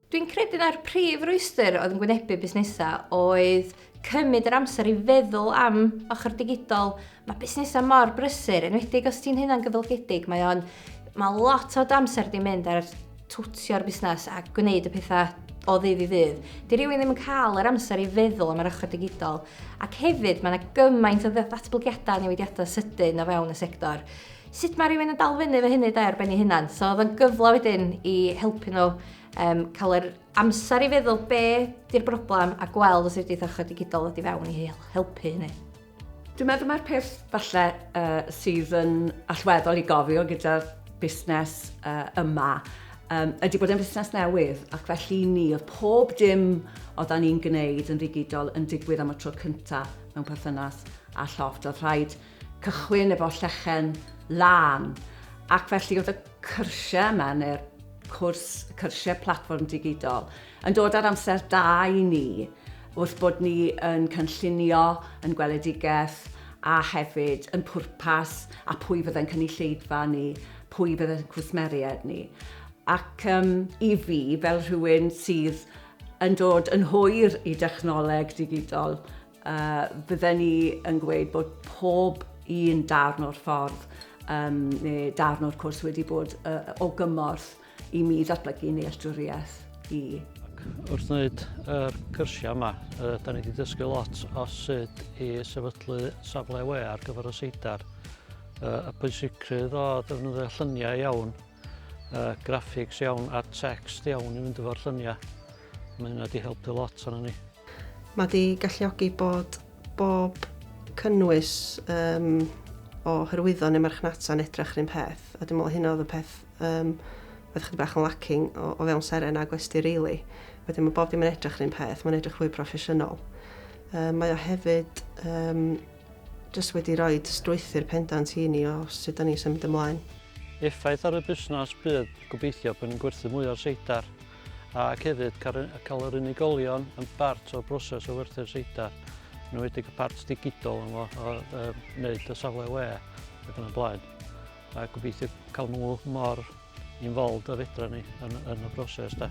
Dwi'n credu na'r prif rwystr oedd yn gwynebu busnesau oedd cymryd yr amser i feddwl am ochr digidol. Mae busnesau mor brysur, enwedig os ti'n hynna'n gyfylgedig, mae o'n... Mae lot o amser di mynd ar twtio'r busnes a gwneud y pethau o ddydd i ddydd. Di rhywun ddim yn cael yr amser i feddwl am yr ochr digidol. Ac hefyd, mae yna gymaint o ddatblygiadau newidiadau sydyn o fewn y sector. Sut mae rhywun yn dal fyny efo hynny de, ar ben ei hunan? So oedd o'n gyfle wedyn i helpu nhw um, cael yr amser i feddwl be di'r broblem a gweld os ydy'r ochr digidol wedi fewn i helpu hynny. Dwi'n meddwl mae'r peth falle uh, sydd yn allweddol i gofio gyda busnes uh, yma um, ydy bod yn busnes newydd ac felly ni oedd pob dim o dan ni'n gwneud yn ddigidol yn digwydd am y tro cyntaf mewn perthynas a llofft. Oedd rhaid cychwyn efo llechen lân, ac felly oedd y cyrsiau yma, neu'r cwrs cyrsiau platfform digidol, yn dod ar amser da i ni, wrth bod ni yn cynllunio, yn gweledigaeth, a hefyd yn pwrpas, a pwy fydde'n cynulleidfa ni, pwy fydde'n cwsmeriaid ni. Ac um, i fi, fel rhywun sydd yn dod yn hwyr i dechnoleg digidol, A bydden ni yn gweud bod pob un darn o'r ffordd um, neu darn o'r cwrs wedi bod uh, o gymorth i mi ddatblygu nealltwriaeth i. Wrth wneud y er cyrsiau yma, uh, da ni wedi dysgu lot o sut i sefydlu safle we ar gyfer y seidar. Uh, y pwysigrwydd o ddefnyddio lluniau iawn uh, graphics iawn a text iawn i fynd efo'r lluniau. Mae hynna wedi helpu lot arno ni. Mae wedi galluogi bod bob cynnwys um, o hyrwyddo neu marchnata yn edrych rhywun peth, a dwi'n meddwl hynna oedd y peth um, oedd chyd bach yn lacking o, o fewn seren a gwesti rili. Really. Wedyn mae bob dim yn edrych rhywun peth, mae'n edrych fwy proffesiynol. Um, mae o hefyd um, Jyst wedi rhoi strwythur pendant i ni o sut dan ni'n symud ymlaen. Effaith ar y busnes bydd gobeithio bod ni'n gwerthu mwy o seidar ac hefyd cael yr unigolion yn bart o'r broses o werthu'r seidar, yn enwedig y part digidol yma o wneud y safle we ac yn y blaen. A gobeithio cael nhw mor involved a fedra ni yn, yn y broses da.